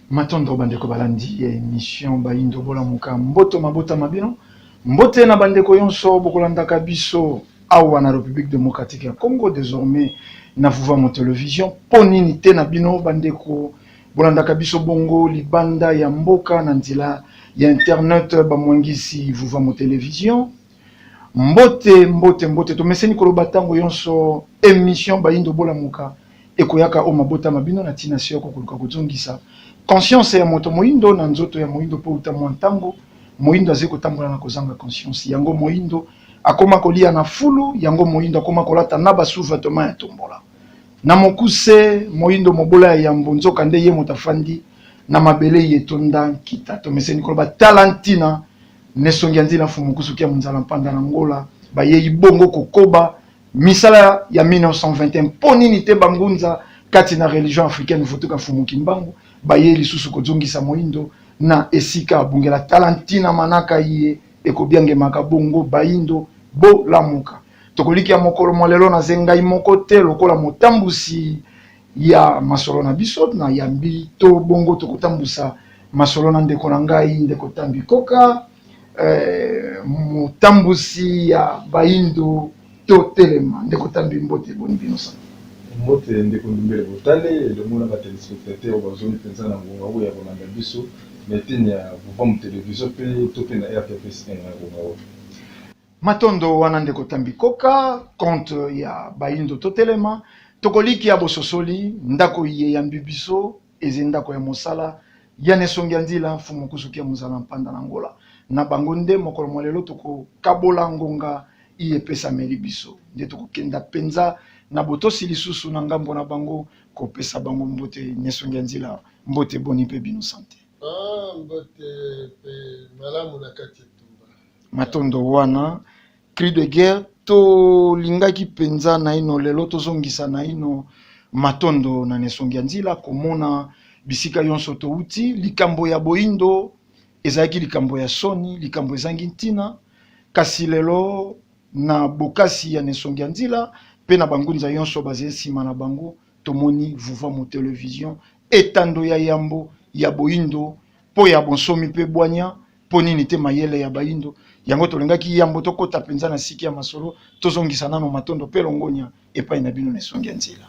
Matondo bandeko balandi ya emission Bayindo bolamuka mboto mabota ma bino mbote na bandeko yonso bokolandaka biso awa na Republique democratique ya Congo desormais na Vuvamo Television mpo nini te na bino bandeko bolandaka biso bongo libanda ya mboka na nzela ya internet bamwangisi Vuvamo Television mbote mbote mbote tomeseni koloba ntango yonso emission Bayindo bolamuka ekoyaka o mabota ma bino na ntina se yoko koluka kozongisa conscience ya moto moindo na nzoto ya moindo, mpo uta mwa ntango moindo azali kotambola na kozanga conscience, yango moindo akoma koliya na fulu, yango moindo akoma kolata naba sous-vetements ya tombola na mokuse, moindo mobola ya yambo, nzoka nde ye moto afandi na mabele iye etonda nkita, tomeseni koloba tala ntina n'esongi ya nzina mfumu nkusu kia munzala mpanda na ngola, bayei bongo kokoba. Misala ya 1921 mpo nini te bangunza kati na religion africaine Vutuka Mfumu Kimbangu baye lisusu kozongisa moindo na esika abungela tala ntina manaka iye ekobiangemaka bongo baindo bolamuka tokolikia mokolo mwa lelo naze ngai moko te lokola motambusi ya masolo na biso na yambi to bongo tokotambusa masolo na ndeko na ngai ndeko Tambi Koka Eh, motambusi ya bayindo totelema ndeko tambi mbote boni bino sana mbote ndeko ndumbele botale elongo na batelespectateur oyo bazongi mpenza na ngonga oyo ya kolanda biso na eteni ya vuvamu televizio mpe to mpe na rtps 1 na ngonga oyo matondo wana ndeko tambi koka konte ya bayindo totelema tokolikia bososoli ndako iye yambi biso Eze ndako ya mosala ya Nesongi ya Nzila, Mfumu Mokusuki ya Muzala Mpanda na Ngola. Na bango nde mokolo mwa lelo tokokabola ngonga iye epesameli biso. Nde tokokenda mpenza na botosi lisusu na ngambo na bango kopesa bango mbote. Nesongi ya Nzila, mbote boni mpe bino sante? Ah, mbote mpe malamu na kati etumba. Matondo wana cri de guerre tolingaki mpenza naino lelo tozongisa naino matondo na nesongi ya nzila komona bisika yonso touti likambo ya boindo ezalaki likambo ya soni likambo ezangi ntina kasi lelo na bokasi ya nesongi ya nzila mpe na bangunza yonso bazali nsima na bango tomoni vuvamu television etando ya yambo ya boindo mpo ya bonsomi mpe bwanya mpo nini te mayele ya bayindo yango tolingaki yambo tokota mpenza na siki ya masolo tozongisa nano matondo mpe longonya epai na bino na esongi ya nzela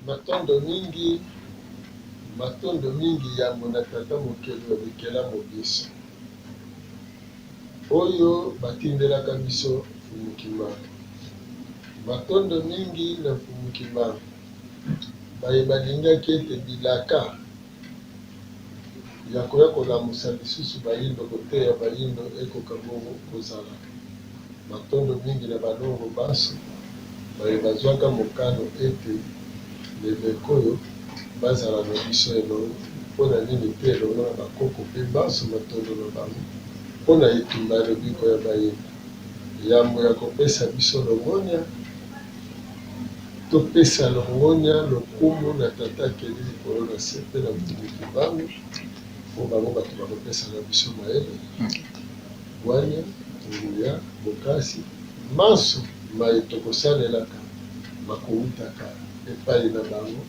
matondo mingi matondo mingi yambo na tata mokeli ya bikela mobisi oyo batindelaka biso mfumu kimbangu matondo mingi na mfumu kimbangu baye balingaki ete bilaka ya koya kolamusa lisusu bayindo, koteya bayindo ekoka bongo kozala. Matondo mingi na balongo banso baye bazwaka mokano ete levekoyo bazala na biso elongo, mpo na nini te elongo na bakoko mpe banso matondo na bango mpo na etumba ya lobiko ya bayindo yambo ya kopesa biso longonya. Topesa longonya, lokumu na Tata akeli likolo na se mpe na Mokonzi Kimbangu mpo bango bato bakopesaka biso mayele, bwania, nguya, bokasi, manso maye tokosalelaka makowutaka epayi na bango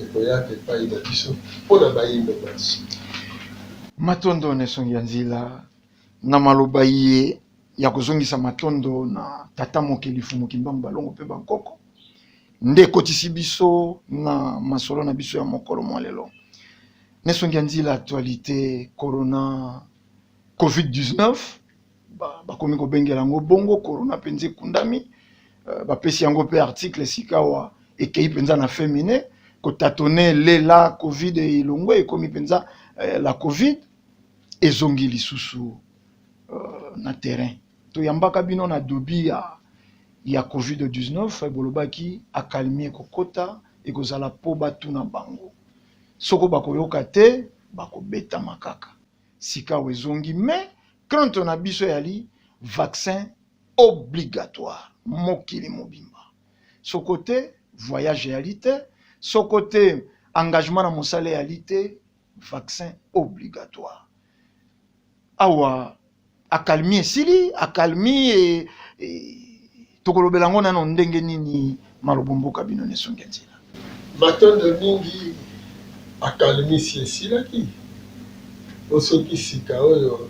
ekoyaka epayi na biso mpo na bayindo manso. Matondo na esungi ya nzila Na maloba iye ya kozongisa matondo na tata mokeli Mfumu Kimbangu Balongo mpe bankoko, nde ekotisi biso na masolo na biso ya mokolo mwa lelo nesongi ya nzila actualité corona covid-19 bakomi ba kobengela yango bongo corona mpenza ekundami euh, bapesi yango mpe article sikawa ekei mpenza na femine kotatone lela covid elongwe ekomi mpenza euh, la covid ezongi lisusu uh, na terrain toyambaka bino na dobi ya, ya covid-19 bolobaki akalmi ekokota ekozala mpo batuna bango soko bakoyoka te bakobetama kaka sikawa ezongi me krante na biso eyali vaccin obligatoire mokili mobimba soko te voyage eyali te soko te engagement na mosala eyali te vaccin obligatoire awa akalmi esili akalmi e, e, tokolobela yango nano ndenge nini malobo mboka bino nesonge nzela matondo mingi akalmisi esilaki po soki sika oyo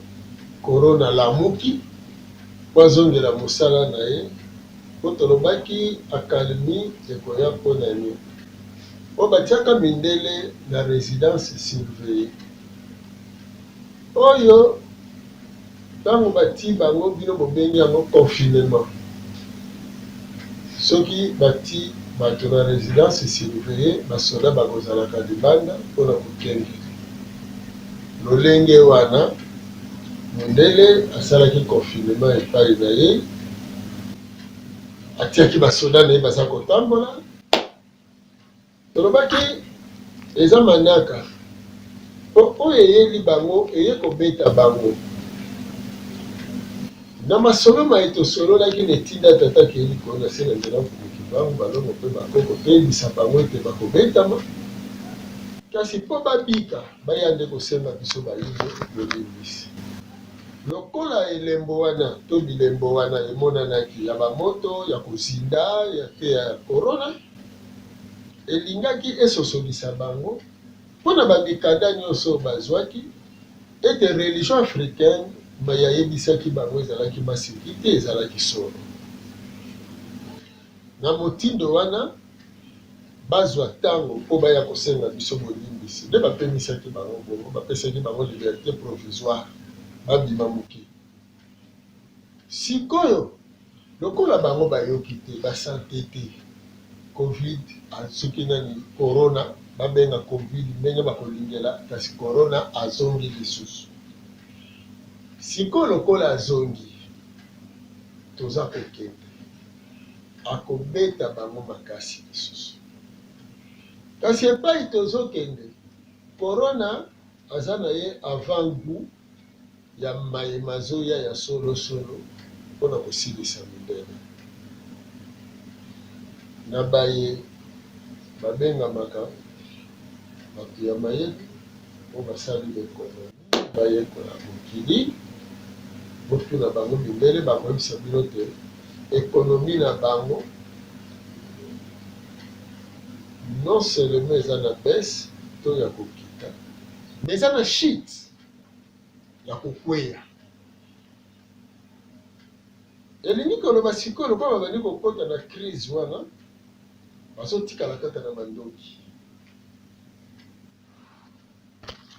korona alamuki po azongela mosala na ye po tolobaki akalmi ekoya mpo na nini Oyo batiaka mindele na residence surveillee oyo tango batii bango bino bobengi yango confinement soki batii bato na residence surveillee basoda bakozalaka libanda mpona kokengele lolenge wana mundele asalaki confinement epai na ye atiaki basoda na ye baza kotambola Tolobaki eza manaka po oyo eyeli bango eye kobeta bango. Na masolo maye tosololaki na etinda ya tata akei likolo na se na nzela ya Mfumu Kimbangu, Balongo pe Bakoko toyebisa bango ete bakobetama kasi po babika baya nde kosenga biso bayindo bolimbisi. Lokola elembo wana to bilembo wana emonanaki ya bamoto ya kozinda mpe ya korona elingaki esosolisa bango, mpo na bamikanda nyonso oyo bazwaki, ete religion africaine mai ayebisaki bango ezalaki maseki te, ezalaki solo. Na motindo wana, bazwa ntango mpo baya kosenga biso bolimbisi. Nde bapemisaki bango, bongo bapesaki bango liberte provisoire babima mokili. Sikoyo, lokola bango bayoki te, basante te, covid, soki nani, corona, babenga covid ndenge bakolingela, kasi corona azongi lisusu. Sikoyo lokola azongi, toza kokende. akobeta bango makasi lisusu. Kasi epai tozo kende corona aza na ye avant gout ya maye mazoya ya solo solo pona kosilisa mibele na baye babengamaka batu ya mayele po basali ba economies. Bayekola mokili, botuna bango mindele, bakoyebisa bino te economie na bango non seulement eza na baisse to ya kokita, mais eza na chute ya kokweya. Elingi koloba sikoyo lokola babandi kokota na crise wana, bazotikala kaka na mandoki.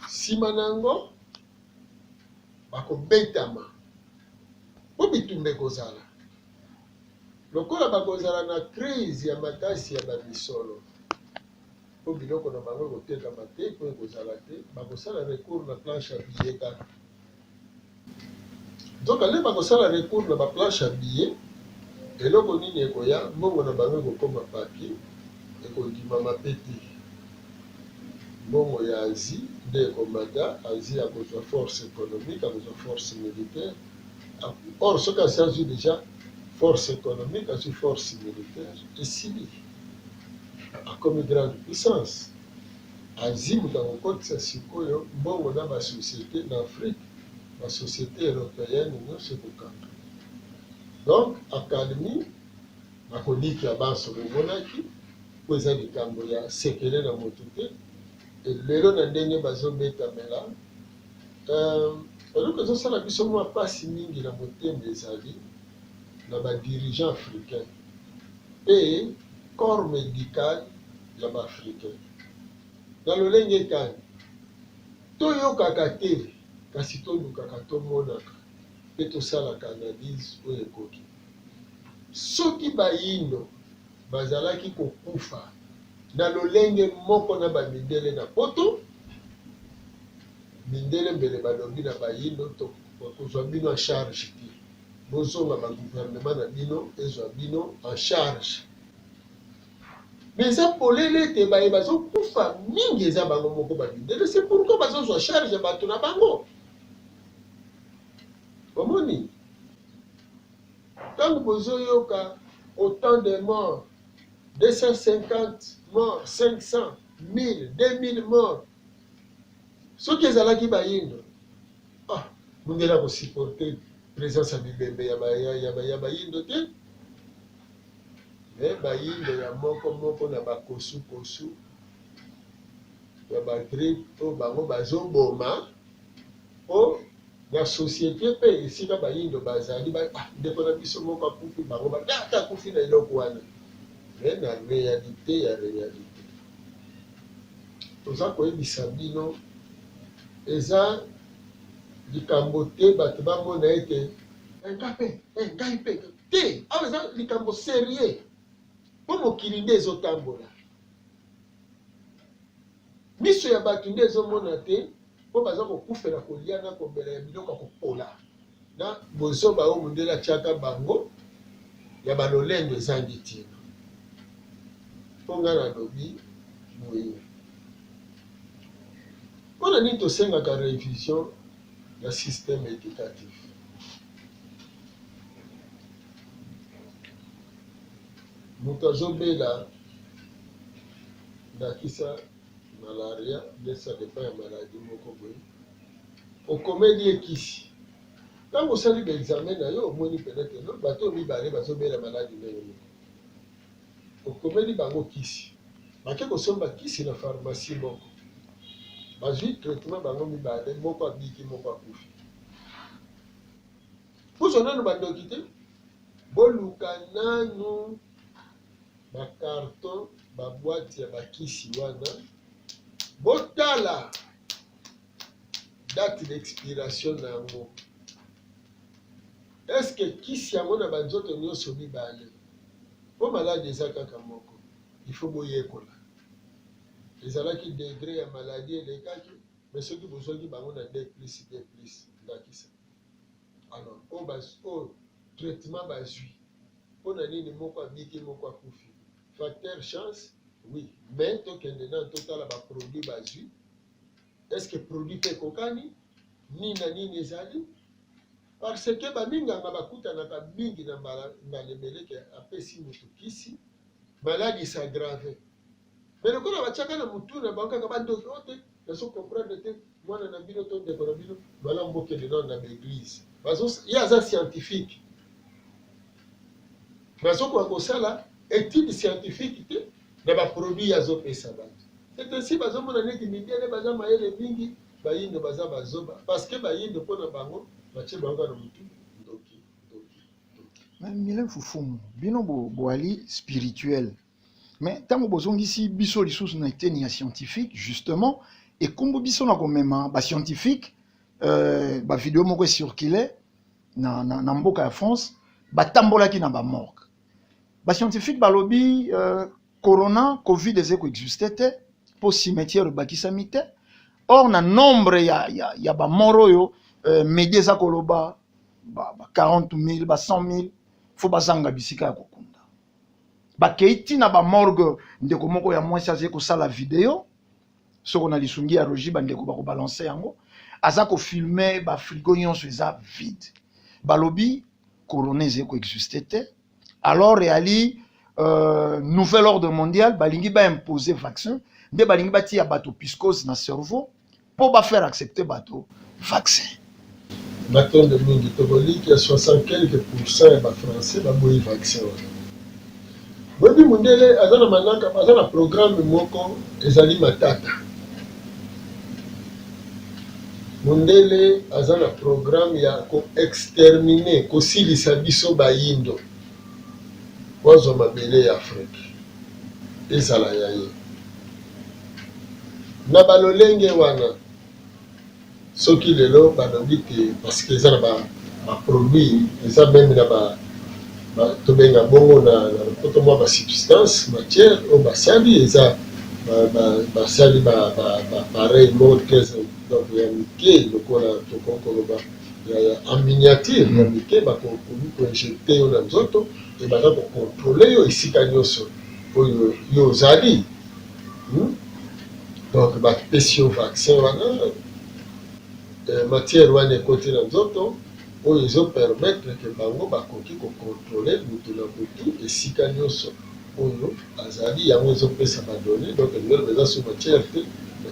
Nsima na yango, bakobetama mpo bitumba ekozala. Lokola bakozala na krize ya makasi ya bamisolo mpo biloko na bango ekotekama te mpo ekozala te, bakosala recours na planche ya billets kaka. Nzoka nde bako sala recours na ba planche ya billet eloko nini ekoya mbongo na bango eko koma papier eko ndimama pe te mbongo ya Asie nde eko mata Asie ako zua force economique ako zua force militaire or soki asi azui dejà force economique azui force militaire esili akomi grande puissance Azimi na kokotisa sikoyo mbongo na ba societes na Afrique, ba societes europeenne nionso ekokanga. Donc accalmie na kolikia banso bomonaki po eza likambo ya sekele na mutu te et lelo na ndenge bazo betamela euh eloko ezo sala biso mua pasi mingi na motema ezali na ba dirigeants africains mpe corps medical ya ba africain. Na lolenge kani? Toyokaka te kasi tolukaka, tomonaka mpe tosalaka analyse oyo ekoki. Soki bayindo bazalaki kokufa na lolenge moko na ba mindele na poto, mindele mbele balobi na bayindo tokozwa bino en charge te. Bozonga ba gouvernement na bino ezwa bino en charge. Mais eza polele ete baye bazokufa mingi eza bango moko ba mindele, c'est pourquoi bazozwa charge ya bato na bango. Bomoni? Ntango bozoyoka autant de morts 250 morts 500 1000 2000 morts soki ezalaki bayindo Ah, mundele ako supporter presence ya bibembe ya ba ya, ya, ba, ya bayindo te. Mais bayindo ya moko moko na bakosu kosu ya ba trip oyo bango bazoboma o na société pe esika bayindo bazali ba, ah, ndeko na biso moko akufi bango ba, ah, akufi na eloko wana mais na réalité ya réalité toza koyebisa bino eza likambo te bato bamona ete eh, nga mpe eh, ngai mpe te awa eza likambo serieux mpo mokili nde ezotambola miso ya bato nde ezomona te mpo baza kokufela kolia na komela ya biloko ya kopola na bozoba oyo mondele atiaka bango ya balolendo ezangi ntina. Mpo ngai nalobi boye, mpo na nini tosengaka revision ya systeme educatif? Moto azobela ndakisa malaria nde ça dépend ya maladie moko boye okomeli ye kisi ntango osali baexame na yo omoni peut-être no bato oyo mibale bazobela maladi ndenge moko okomeli bango kisi bake kosomba kisi na pharmacie moko bazwi traitement bango mibale moko abiki moko akufi puso nano bandoki te boluka nanu ba carton ba boite ya bakisi wana botala date d'expiration na yango eske kisi yango na banzoto nyonso mibale mpo maladi eza kaka moko ifo boyekola ezalaki degre ya maladi elekaki me soki bozwaki bango na d plus d plus ndakisa Alors oyo bas oyo traitement bazui pona nini moko abiki moko akufi facteur chance oui mais tokende nanu totala ba produit bazui est ce que produit mpe ekokani nini na nini ezali parce que baminganga bakutanaka mingi na mbala mbala ebeleke apesi moto kisi maladi s'aggrave Mais lokola batiaka na mutu na bango kaka ba ndoki oyo te nazo comprendre te mwana na bino to ndeko na bino malamu bokende nanu na ba eglise bazo ye aza scientifique bazokoka kosala étude scientifique te na baproduit azopesa bato c'est ainsi bazomona neti mindele baza mayele mingi bayindo baza bazoba parce que bayindo mpo na bango batie bango na motu ndoki ndoki ndoki mile fufumu bino boali spirituel mais ntango bozongisi biso lisusu na eteni ya scientifique justement ekumbu biso na komema bascientifique euh, bavideo moko ecircule na, na, na mboka ya france batambolaki na bamorgue bascientifique balobi euh, corona covid eze koexiste te mpo cimetière ebakisami te or na nombre ya, ya, ya bamor oyo euh, medi eza koloba ba, ba 40 000 ba 100 000 fo bazanga bisika ya kokunda bakei ntina bamorgue ndeko moko ya mwasi azali kosala video soko na lisungi ya rogi bandeko bakobalanse yango aza kofilme bafrigo nyonso eza vide balobi corona ezali koexiste te alors eyali euh, nouvel ordre mondial balingi baimpose vaccin nde balingi batiya bato piscose na cerveau mpo ba faire accepter bato vaccin. Matondo mingi, tokolikya 60 quelque pourcent ya ba français baboyi vaccin wana. Boyebi mundele aza na manaka, baza na programme moko ezali matata. Mundele aza na programme ya ko exterminer, kosilisa biso bayindo, po azwa mabele ya Afrique. ezala ya ye. Na ba lolenge wana soki lelo balobi te parce que eza na ba, ba produits eza meme na ba, ba tobenga bongo na, na lopoto mwa ba substance matière oyo basali eza basali ba, ba, ba, ba, ba pareil moko très donc ya mike lokola tokoki koloba ya, ya en miniature ya mike bakokomi koinjecte yo na nzoto Et baza ko controler yo esika nioso oyo yo ozali hmm? Donc ba pesi yo vaccin wana eh, matière wana ekoti na nzoto oyo ezo permettre que bango bakoki ko controler mutu na mutu esika nioso oyo azali yango ezopesa ba données donc biloko eza sous matière te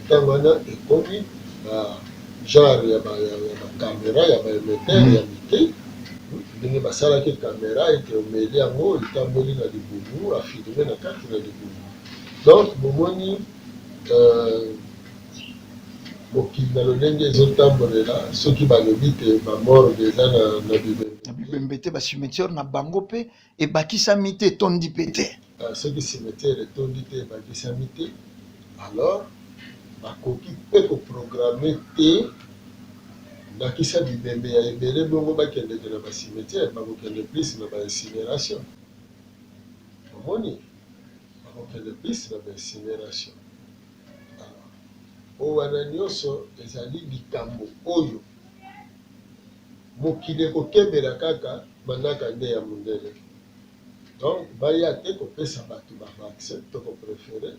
ntango wana ekomi ba genre ya ba ya ba camera ya ba emetteur mm. ya mike ndenge basalaki camera ete omeli yango etamboli na libumu afilme na kati na libumu donc bomoni euh, mokili na lolenge ezotambolela soki balobi te bamorge eza na bibembe te bacimetiere na bango mpe ebakisami te etondi mpe te euh, soki cimetière etondi te ebakisami te alors bakoki mpe koprograme te ndakisa bibembe ya ebele bongo bakendeke na bacimetière bakokende plus na baincineration omoni bakokende plus na baincineration oyo wana nyonso ezali likambo oyo Mokili ekokebela kaka manaka nde ya mundele donc baya te kopesa batu ba vaccin toko prefere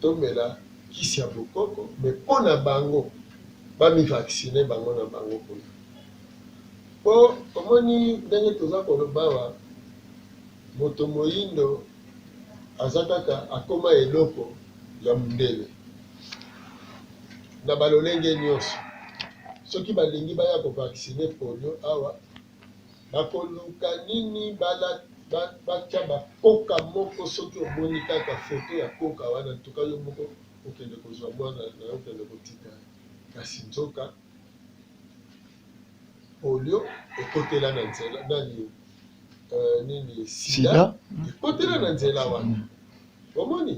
tomela kisi ya bokoko mais pona bango ba mi vaccine bango na bango kuna po omoni ndenge toza koloba awa moto moyindo aza kaka akoma eloko ya mundele na ba lolenge nionso soki balingi baya ko vaccine polio awa bakoluka nini batia ba koka moko soki omoni kaka foto ya koka wana ntuka yo moko okende kozwa mwana nayo okende kotika kasi nzoka polio ekotela na nzela nani euh, nini sida ekotela na nzela wana omoni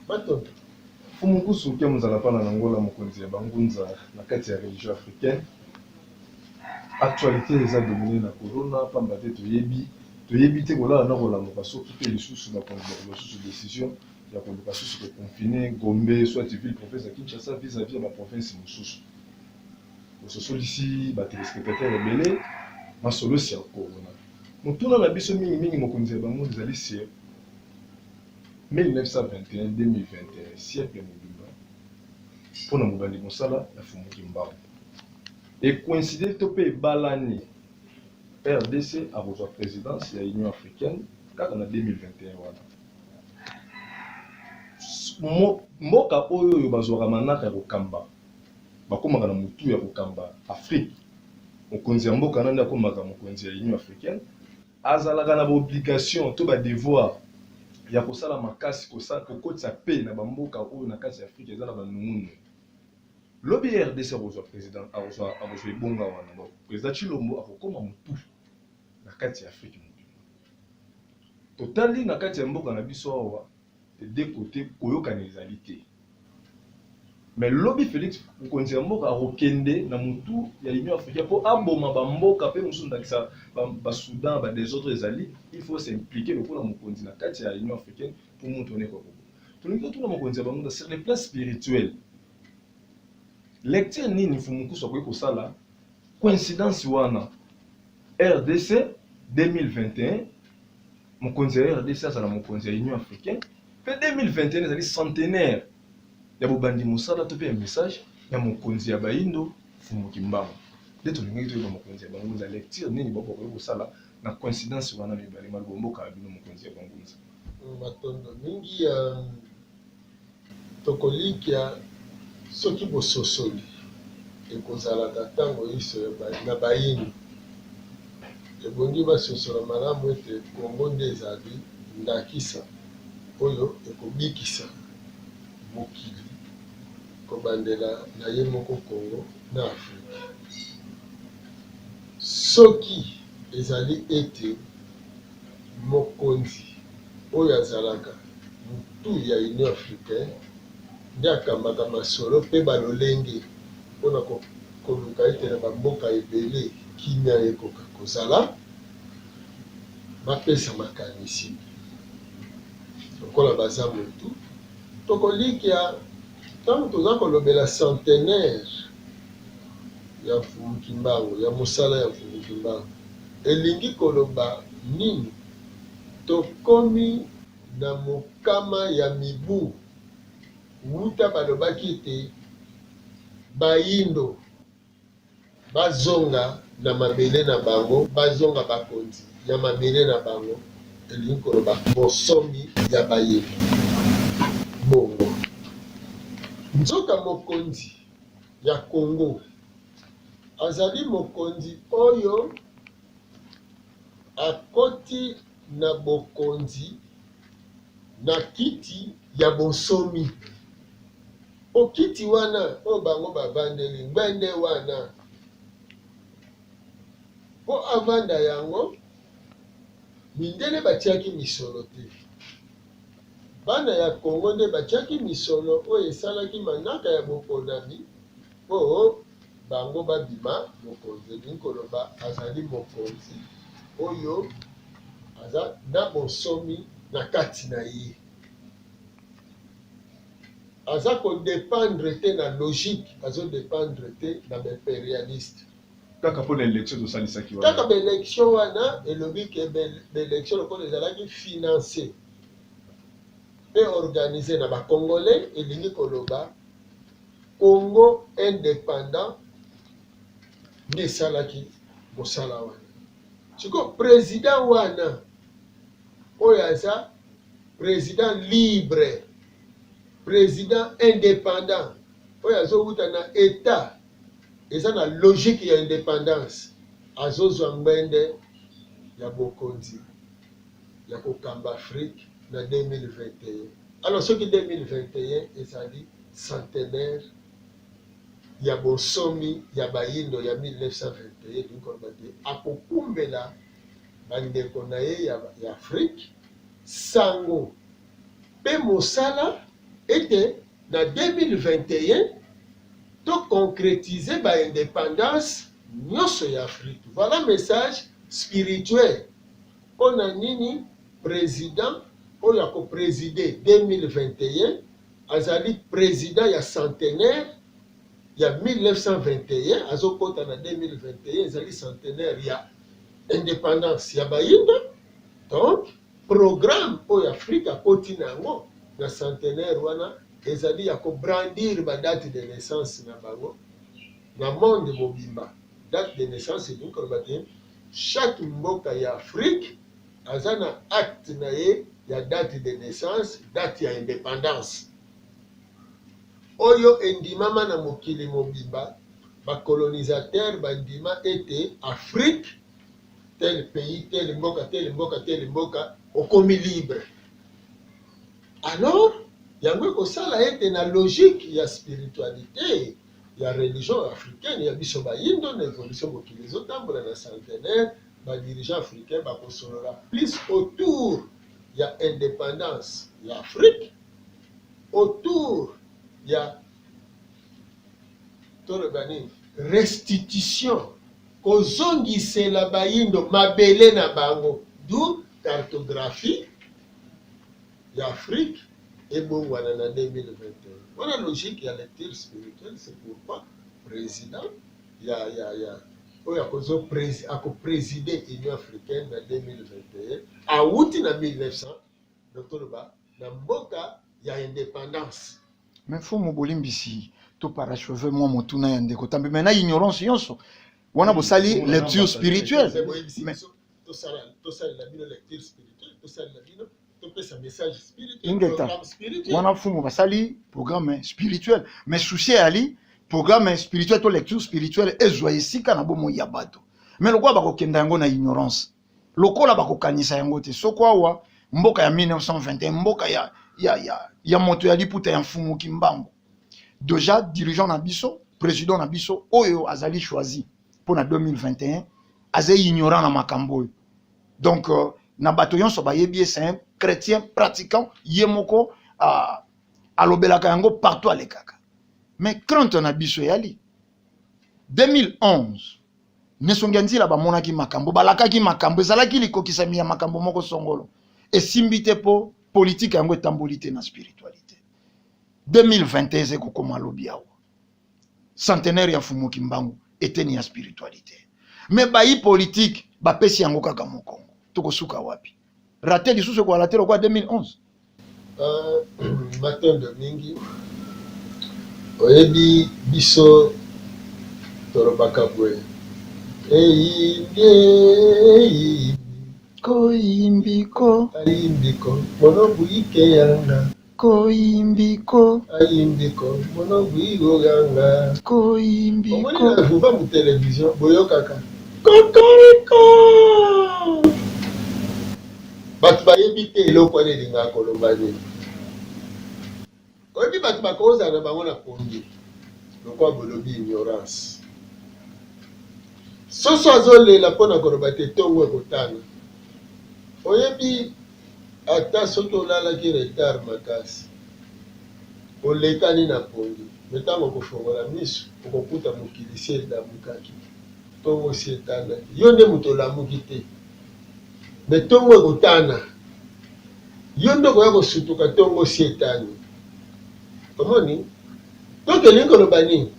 batonto Fumukusu ke muzala pana na Angola mokonzi ya bangunza na kati ya religion africaine actualité eza domine na corona pamba te toyebi toyebi te kolala na kolamuka soki te lisusu bakonzi bakozwa susu decision ya koluka susu koconfine gombe soit ville province ya kinshasa vis-à-vis ya baprovince mosusu ososolisi ba telespectateurs ebele masolo sur corona. Motuna na biso mingi mingi mokonzi ya bango ezali sur 1921-2021 siècle mobimba mpo na mobandi mosala ya Fumu Kimbangu ecoincide to mpe ebalani RDC akozwa présidence ya Union africaine kaka na 2021 wana mboka oyo oyo bazwaka manaka ya kokamba bakomaka na mutu ya kokamba Afrique mokonzi ya mboka nande akomaka mokonzi ya union africaine azalaka na ba obligation to ba devoir ya kosala makasi kokotisa paix na ba mboka oyo na kati ya Afrique eza na ba nungunungu lobi rdc akozua president akozua akozua ebonga wana donc president tshilombo akokoma mutu na kati ya Afrique mobimba totali na kati ya mboka na biso awa des deux cotes koyokana ezali te mais lobi Felix mokonzi ya mboka akokende na mutu ya Union africaine mpo aboma ba mboka mpe mosusu ndakisa ba, ba Soudan ba desordre ezali il faut s'impliquer lokola mokonzi na kati ya Union africaine mpo moto wana ekoka koboma tolingi totuna mokonzi ya bango sur le plan spirituel lecture nini mfumukusu akoki kosala coïncidence wana rdc 2021 mokonzi ya rdc azala mokonzi ya union africaine mpe 2021 ezali centenaire ya bobandi mosala to mpe ya message ya mokonzi ya bayindo mfumu kimbangu nde tolingaki toyeba mokonzi ya bangunza lecture nini bakokoki kosala na coïncidence wana mibale maloba mboka ya bino mokonzi ya bangunza matondo mingi ya Tokolikya soki bososoli ekozalaka ntango inso na bayini. Ebongi basosola malamu ete Congo nde ezali ndakisa oyo ekobikisa mokili kobandela na ye moko Congo na Afrika. Soki ezali ete Mokonzi oyo azalaka mutu ya Union africaine nde akambaka masolo mpe ba lolenge mpo na koluka ete na ba mboka ebele kimia ekoka kozala, bapesa makanisi lokola baza mutu. Tokolikia tango toza kolobela centenaire ya Mfumu Kimbangu, ya mosala ya Mfumu Kimbangu. Elingi koloba nini? Tokomi na mokama ya mibu wuta balobaki ete bayindo bazonga na mabele na bango, bazonga bakonzi ya mabele na bango, elingi koloba bonsomi ya bayindo. Bongo nzoka mokonzi ya Congo. Azali mokonzi oyo akoti na bokonzi na kiti ya bonsomi. Po kiti wana oyo bango bavandeli ngbende wana po avanda yango mindele batiaki misolo te bana ya congo nde batiaki misolo oyo esalaki manaka ya boponami Mpo bango babima, mokonzi, elingi koloba azali mokonzi oyo aza na bonsomi na kati na ye, aza kodependre te na logique, azodependre te na baimperialiste. Kaka mpo na election tosalisaki wana. Kaka baelection wana elobi ke baelection lokola ezalaki finance mpe organise na bacongolais, elingi koloba Congo independant nde esalaki mosala wana. Sikoyo president wana oyo aza president libre, president independant oyo azowuta na etat eza na logique ya independance, azozwa ngbende ya bokonzi. ya kokamba Afrique na 2021. Alors soki 2021 ezali centenaire ya bonsomi ya bayindo ya 1921 elingi koloba te akokumbela bandeko na ye ya, ya Afrique sango mpe mosala ete na 2021 to concretize ba independance nyonso ya Afrique. Voilà message spirituel Pona nini president oyo ako presider 2021 azali president ya centenaire ya 1921 azo kota na 2021 ezali centenaire ya independance ya bayinda donc programme oyo Afrique akoti na yango na centenaire wana ezali ya ko brandir ba date de naissance na bango na monde mobimba date de naissance elingi koloba te Chaque mboka ya Afrique aza na acte na ye ya date de naissance, date ya independance oyo endimama na mokili mobimba. Ba colonisateurs ba ndima ete Afrique tel pays, tel mboka, tel mboka, tel mboka okomi libre. Alors yango ekosala ete na logique ya spiritualite, ya religion africaine ya biso bayindo na evolution mokili ezotambola na centenaire ba dirigeants africains bakosolola plus autour ya independance ya Afrique autour ya toloba nini restitution kozongisela bayindo mabele na bango du cartographie ya Afrique ebongwana na 2021 wana logique ya lecture spirituelle c'est pourquoi president ya ya ya oyo akozo presi ako presider Union africaine na 2021 awuti na 1900 donc toloba na mboka ya independance mais fumu bolimbisi to paracheve mwa motuna ya ndeko tambe mais na ignorance yonso wana bosali lecture spirituelle tosalela bino lecture spirituelle tosalela bino ingeta wana fumu basali programme spirituel mais souci eyali programme spirituel to lecture spirituelle ezwa esika na bomoi ya bato mais lokola bakokenda yango na ignorance lokola bakokanisa yango te soko awa mboka ya 1921 mboka ya, ya, ya, ya moto ya liputa ya mfumu kimbangu deja dirigeant na biso président na biso oyo azali choisi mpo na 2021 aza ignorant na makambo oyo donc euh, na bato nyonso bayebi ye c'est un chrétien pratiquant ye moko uh, alobelaka yango partout alekaka mais crainte na biso eyali 2011 nesongi ya nzila bamonaki makambo balakaki makambo ezalaki likokisami ya makambo moko songolo esimbi te mpo politike yango etamboli te na spiritualité 2021 eza ekokoma lobi awa centenaire ya Mfumu Kimbangu eteni ya spiritualite me bayi politike bapesi yango kaka mokongo. Tokosuka wapi? rate lisusu ekolala te lokola 2011 euh, matondo mingi oyebi biso tolobaka boye eyimbie eyimbie koyimbiko ayimbiko mono buyike yanga Koyimbi ko. Ayimbi ko mona buyi go ga nga. Koyimbi ko. Omoni na vuba mu television boyokaka kokoriko batu bayebi te eloko wana elingaka koloba nini oyebi batu bakozala na bango na pongi lokola bolobi ignorance soso azolela mpo na koloba te ntongo ekotana oyebi Ata soki olalaki retard makasi, olekani na pongi, mais tango okofongola misu, okokuta mokili esi elamukaki, tongo esi etanaki. Yo nde moto olamuki te, mais tongo ekotana, yo nde okoya kosutuka tongo esi etani. Omoni? Donc elingi koloba nini?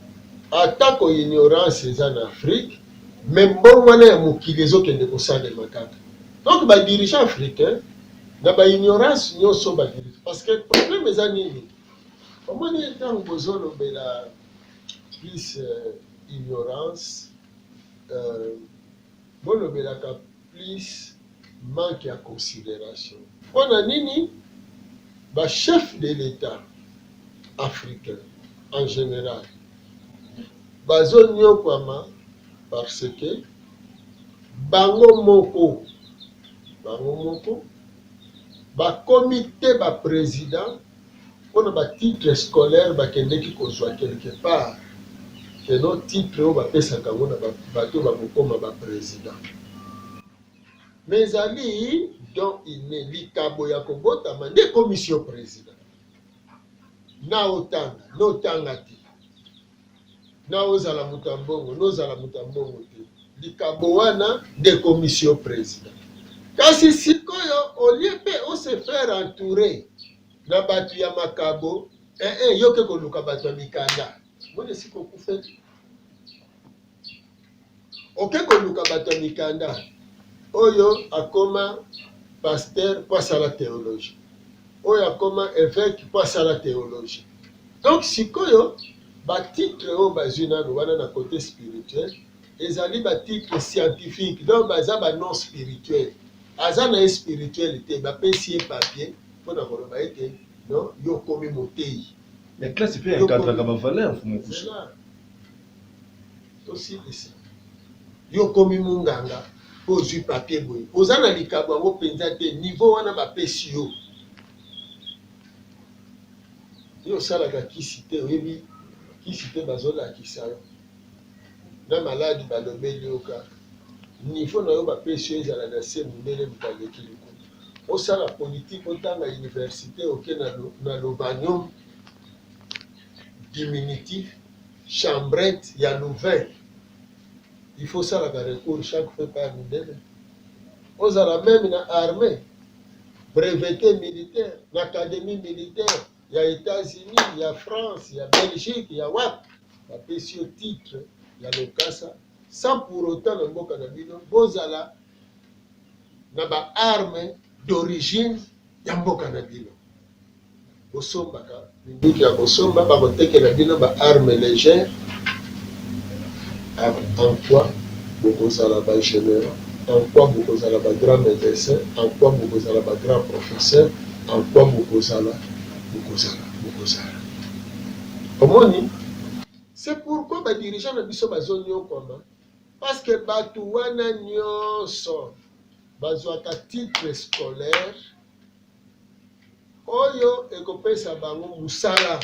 Atako ignorance eza na Afrique, Mais mbongwana ya mokili ezo kende ko salema kaka donc ba dirigeants africains na ba ignorance nioso ba dirigeants parce que problème eza nini omoni tango bozo lobela plus ignorance euh, bolobelaka Plus manque ya consideration. Pona nini ba chefs de l'Etat africains en general bazo niokwama? Parce que bango moko bango moko bakomi te ba presidents pona ba titre scolaire bakendeki kozua quelque part que no titre oyo bapesaka yango na ba batu oyo bakokoma ba president mais ezali don inne likabo ya kobotama nde ekomisi yo president na otanga na otanga te. Nao zala moto ya mbongo no zala moto ya mbongo te, likabo wana nde ekomisi yo president. Kasi sikoyo olie mpe ose faire entoure na bato ya makabo eh, eh, yoke koluka bato ya mikanda moni esika okufeli Oke koluka bato ya mikanda oyo akoma pasteur mpo asala theologie, oyo akoma evêque mpo asala theologie. Donc sikoyo batitre oyo bazwi nano wana na cote spirituel ezali batitre scientifique, donc baza banon spirituel. Aza na ye spirituel te, bapesi ye papier mpo na koloba ete non, yo okomi moteyi. Mais classe pe encadraka ba valeurs mfumu kusu. Osilisi. Yo okomi munganga po ozui papier boye. Oza na likabo yango penza te. Niveau wana ba pesi yo. Yo osalaka kisi te, oyebi kisi te bazo lakisa yo. Na maladi ba lobeli yo kaka. Niveau na yo ba pesi yo ezala na se mundele moto aleki likolo. Osala politique, otanga universite, oke na, na lobanium diminutif. Chambrette ya Louvain il faut osalaka recours chaque fois epai ya mindele? Ozala meme na armee brevete militaire na academie militaire ya Etats-Unis, ya France, ya Belgique, ya wapi bapesi yo titre ya lokasa sans pour autant na mboka na bino bozala na ba armes d'origine ya mboka na bino bosombaka minduki ya kosomba bakotekela bino ba arme légère en quoi bokozala ba généraux en quoi bokozala ba grand médecin en quoi bokozala ba grand professeur en quoi bokozala bokozala bokozala omoni c'est pourquoi ba dirigeant na biso bazoniokwama Parce que batu wana nyonso bazwaka titre scolaire oyo ekopesa bango mosala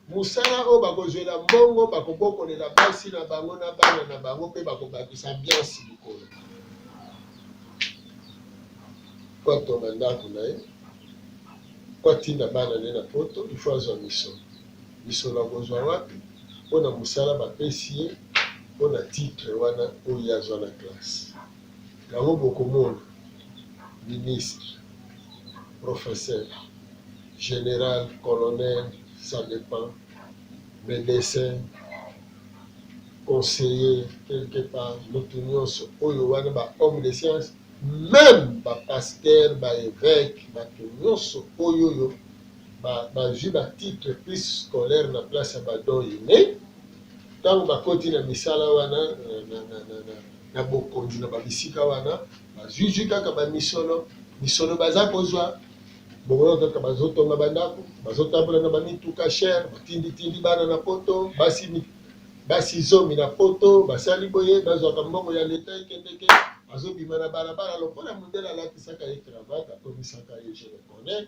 mosala oyo bakozwela mbongo bakobokolela basi na bango na bana na bango mpe bakobakisa biansi likolo kwatonga ndako na ye kwatinda bana ne na poto ifo azwa misolo Misolo akozwa wapi mpo na mosala bapesi ye mpo na titre wana oyo ye azwa na classe? Yango bokomona ministre, professeur, general, colonel, ça depend, medecin, conseiller quelque part, mutu nionso oyo wana ba homme de science meme ba pasteur, ba eveque, batu nionso oyoyo bazwi ba titre plus scolaire na place ya ba don ine ntango bakoti na misala wana na, na, na, na, na, na bokonzi na babisika wana bazwizwi kaka bamisolo misolo baza kozwa bongo kaka bazotonga bandako bazotambola na bamituka chere batinditindi bana na poto basi basi zomi na poto basali boye bazwaka mbongo ya leta ekendeke azobima na balabala lokola mondele alatisaka ye cravate akomisaka ye je le connais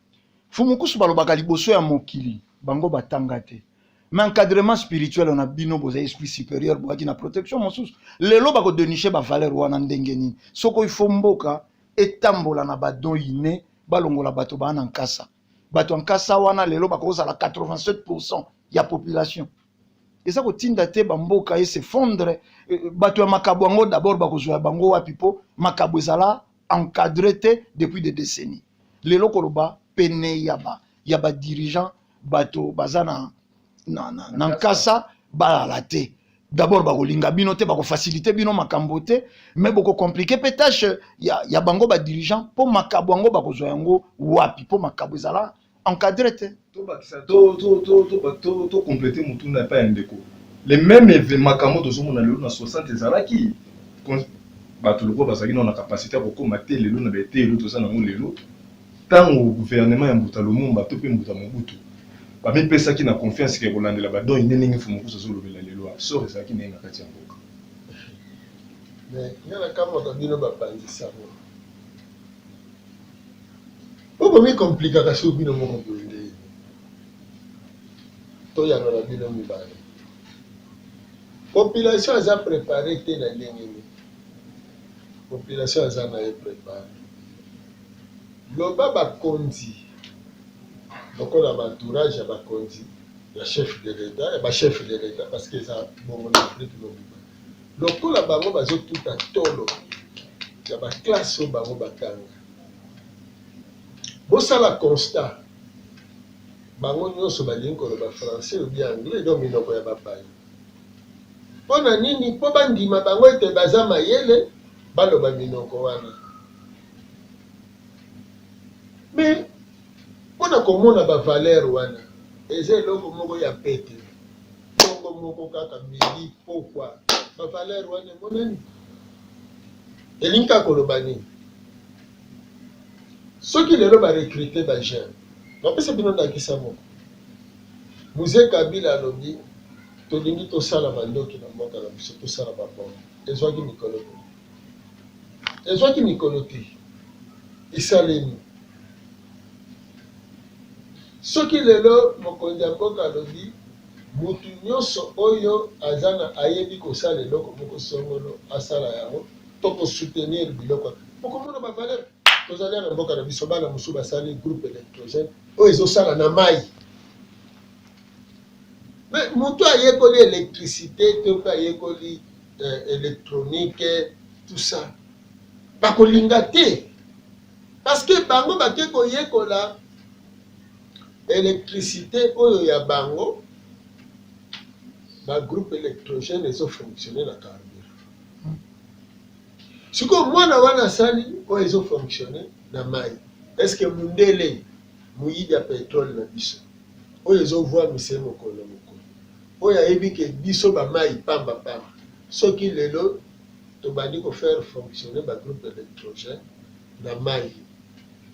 fumukusu balobaka liboso ya mokili bango batanga te mais encadrement spirituel na bino boza esprit supérieur boyaki na protection mosusu lelo bakodeniche bavaleur wana ndenge nini soko ifo mboka etambola na badon ine balongola bato baa na nkasa bato ya nkasa wana lelo bakozala 87 pourcent ya population eza kotinda te bamboka esefondre euh, bato ya makabo yango dabord bakozwa ya bango wapi mpo makabo ezala encadre te depuis des décennies lelo koloba pene ya ba ya ba dirigeant bato baza na, na, na, na nkasa balala te d'abord bakolinga bino te bakofacilite bino makambo te mais bokokomplike mpe tâche ya, ya bango badirigeant mpo makabo yango bakozwa yango wapi mpo makabo ezala encadre te tobakisa tokomplete motuna epai ya ndeko le même eve makambo tozomona lelo na 60 ezalaki bato lokola bazalaki nao na kapasite ya kokoma te lelo na baeteyelo toza nango lelo ntango guvernema ya mbuta lumumba to mpe mbuta mobutu bamipesaki na confiance ke kolandela badon ine ndenge fomokusu azolobela lelo sor ezalaki ndenge na kati ya mboka mais nga nakamwaka bino bapanzi sango Bo komi complikaka sur bino moko boye nde to yanola bino mibale. Population aza prepare te na ndenge nini? Population aza na ye prepare. Loba ba konzi lokola ba entourage ya ba konzi ya chef de l'etat ya ba chef de l'etat parce que eza bongo na Afrique mobimba. Lokola bango bazo tuta tolo ya ba classe oyo bango ba tanga. Bosala constat bango nionso balingi koloba français ou bien anglais donc minoko ya bapaya. Pona nini? Po bandima bango ete baza mayele baloba minoko wana. Mais pona komona ba valeur wana eza eloko moko ya pete. Tongo moko kaka midi pokwa ba valeur wana emonani? Elingi kaka koloba nini? Soki lelo ba recruter ba jeunes, napesa bino ndakisa moko. Mzee Kabila alobi tolingi tosala mandoki na mboka na biso, tosala ba bombe. Ezwaki mikolo te, ezwaki mikolo te, esalemi. Soki lelo mokonzi ya mboka alobi Mutu nionso oyo aza na ayebi kosala eloko moko songolo asala yango toko soutenir biloko bokomona ba valeur tozalia na mboka na biso bana mosusu basali groupe electrogene oyo ezosala na mayi me mutu ayekoli electricite to pe ayekoli eh, electronique tout ça bakolinga te Parce que bango bake koyekola electricite oyo ya bango ba groupe electrogène ezo fonctionner na carburant. Sikoyo mwana wana asali oyo ezo fonctionne na mai, eske mundele moyibi ya petrole na biso oyo ezovwamise mokolo na mokolo, oyo ayebi ke biso bamai pamba pamba soki lelo tobandi ko faire fonctionner ba groupes electrogènes na mayi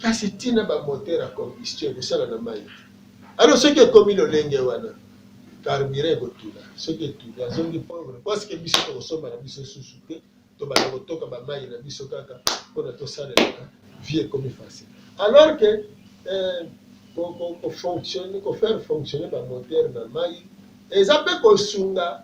kasi tina ba moteurs ya combustion ekosala na mayi te. Alors soki ekomi lolenge wana carburant ekotula, soki etuli azongi pauvre parce que biso tokosomba na biso susu te, tobanda kotoka ba mayi na biso kaka pona tosalelaka vie ekomi facile alors que eh, ko, ko, ko, fonctionne, ko faire fonctionner ba moteurs na mayi eza pe kosunga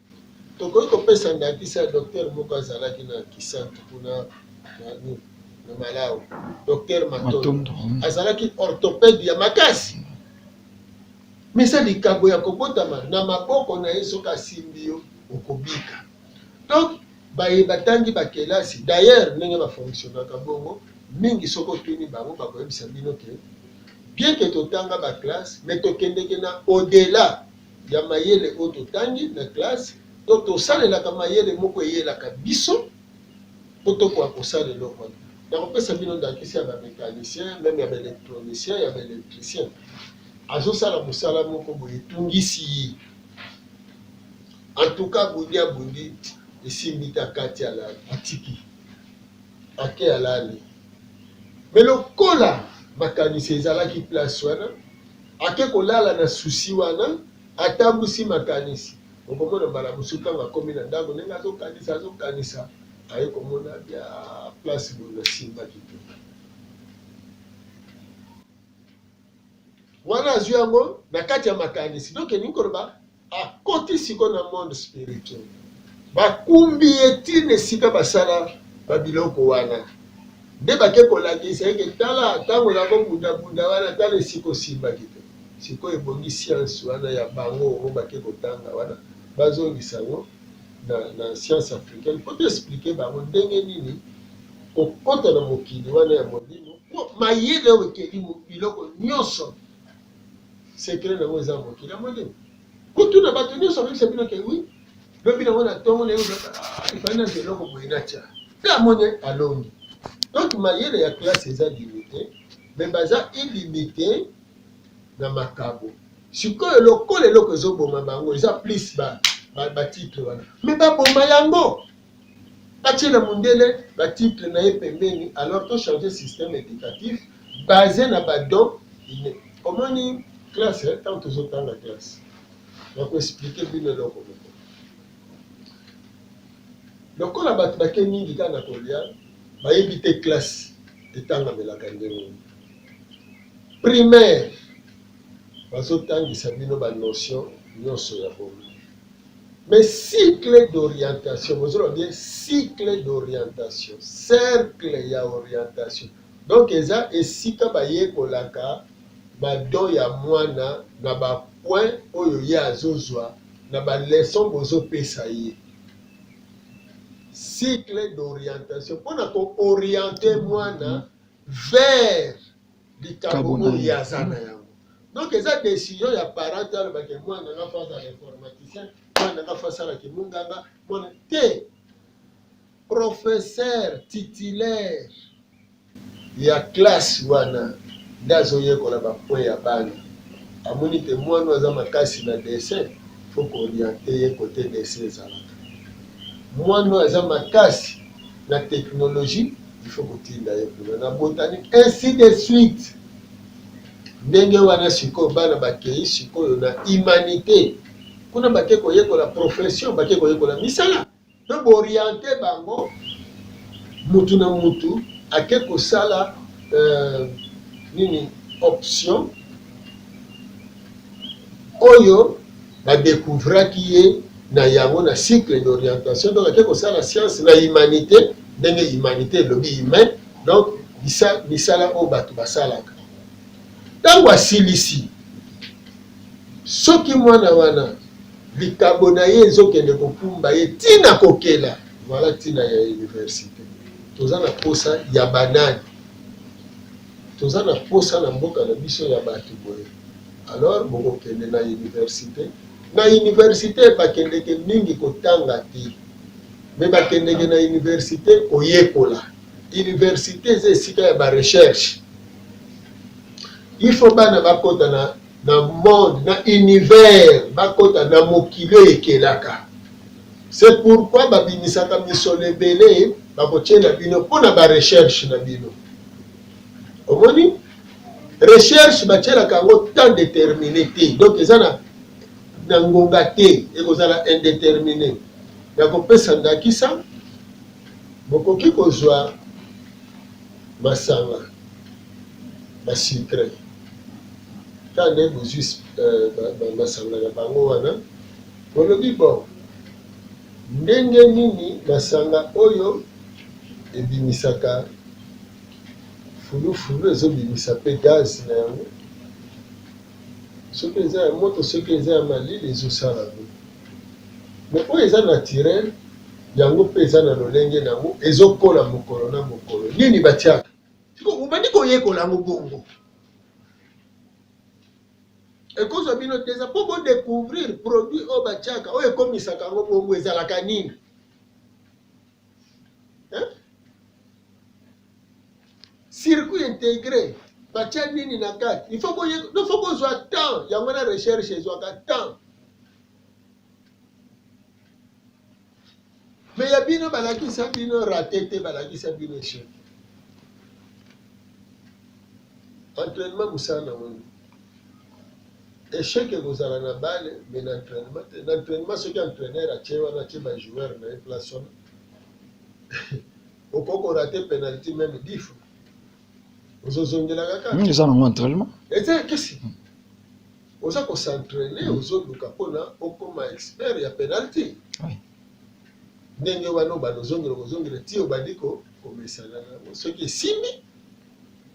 Tokoki kopesa ndakisa ya doktere moko azalaki na Kisantu kuna na nini, na Malawi, doktere Matondo. Matondo, mm. Azalaki orthopede ya makasi, mais eza likambo ya kobotama na maboko na ye, soki asimbi yo okobika. Donc baye batangi bakelasi, d'ailleurs ndenge bafonctionnaka bongo mingi, soki otuni bango bakoyebisa bino ke bien ke totanga baklasse, mais tokendeke na au-delà ya mayele oyo totangi na classe to tosalelaka mayele moko eyelaka biso po tokoka kosala eloko wana. Nakopesa bino ndakisa ya ba mecaniciens, meme ya ba electroniciens, ya ba electriciens. Azosala mosala moko boye etungisi ye. En tout cas abundi abundi esimbi te akati alali atiki. Ake alali. Mais lokola makanisi ezalaki place wana Ake kolala na souci wana, atambusi makanisi. Okomona mbala mosusu ntango akomi na ndako, ndenge azokanisa, azokanisa, aye komona bia place boye nasimbaki te. Wana azwi yango na kati ya makanisi, donc elingi koloba akoti siko na monde spirituel bakumbi ye ntina esika basala babiloko wana nde bake kolakisa eke tala ntango na kobundabunda wana tala esika osimbaki te sikoyo ebongi sianse wana ya bango oyo bake kotanga wana bazongisa yango na, na science africaine mpo toexplike bango ndenge nini kokota na mokili wana ya molimo mpo mayele oyo ekeli biloko nyonso Secret nango eza mokili ya molimo. Kutu na bato nyonso bakisa bino ke oui, lobi nango na tongo na yo ifali na eloko boye na tia. Pe amoni alongi. Donc mayele ya classe eza limite, mais baza illimite na makabo. Sikoyo lokola eloko ezoboma bango eza plus ba ba, ba titre wana. Mais baboma yango. Batiela mundele ba titre na ye pembeni alors to changer système educatif base na ba dons innes. Omoni classe tango tozo tanga classe na ko expliquer bino eloko moko lokola bato bake mingi kaka na kolia bayebi te classe etangamelaka ndenge primaire bazotangisa bino banotion nyonso ya bomi Mais cycle d'orientation, bozoloba bien cycle d'orientation, cercle ya orientation. Donc eza esika bayekolaka ba don ya mwana na ba point oyo ye azozwa na ba leçon bozopesa ye. Cycle d'orientation mpo na ko orienter mwana vers likabo oyo ye aza na yango donc eza decision ya parent te alobake mwana nga fo azala informaticien mwana nga fo asala kimunganga mwana te professeur titulaire ya classe wana nde azoyekola bapwe ya bana amoni te mwana aza makasi na dessin fo kooriente ye kote dessin ezalaka mwana aza makasi na teknologie il faut kotinda ye kuna na botanique ainsi de suite ndenge wana sikoyo bana bakei sikoyo na humanité kuna bake koyekola profession bake koyekola misala mpe booriente bango mutu na mutu ake kosala euh, nini option oyo ba decouvraki ye na yango na cycle d'orientation donc ake kosala science na humanite ndenge humanite elobi humain donc misala oyo bato basalaka ntango asilisi soki mwana wana likabo na ye ezokende kokumba ye ntina kokela vala ntina ya universite toza na mposa ya banani Toza na posa na mboka na biso ya batu boye alors boko kende na universite na universite ba kendeke mingi ko tanga te mais ba kendeke na universite ko yekola universite eza esika ya ba recherche il faut bana ba kota na na monde na univers ba kota na mokili oyo ekelaka c'est pourquoi ba bimisaka misolo ebele ba ko tiela bino pona ba recherche na bino Omoni? Recherche batielaka yango temps determine te, donc eza na na ngonga te, ekozala indetermine. Nakopesa ndakisa, bokoki kozwa masanga basucre ntango bozwi euh, masanga na bango wana Bolobi bon ndenge nini masanga oyo ebimisaka fulu fulu ezo bimisa pe gaz na yango soki eza ya moto soki eza ya malili ezo sala ngo mais oyo eza naturel yango pe eza na lolenge na ngo ezo kola mokolo na mokolo nini batiaka obandi koyekola yango bongo. ekozwa bino te eza mpo bo découvrir produit oyo batiaka oyo ekomisaka yango bongo ezalaka nini circuit intégré batya nini na kati il faut kozwa temps yango na recherche ezwaka temps Mais ya bino balakisa bino rate te balakisa bino echec entraînement mosala na moni echec ekozala na bale mais na entraînement te na entraînement soki entraîneur atie wana atie bajoueur na ye place wana okoki korate penalty meme dix fois ozozongela kaka hmm, eza nango entraînement eza ya kisi hmm. oza kosentraine hmm. ozoluka mpona okoma expert ya penalty ndenge wana obanda ozongela kozongela ti obandi komesana nango soki esimbi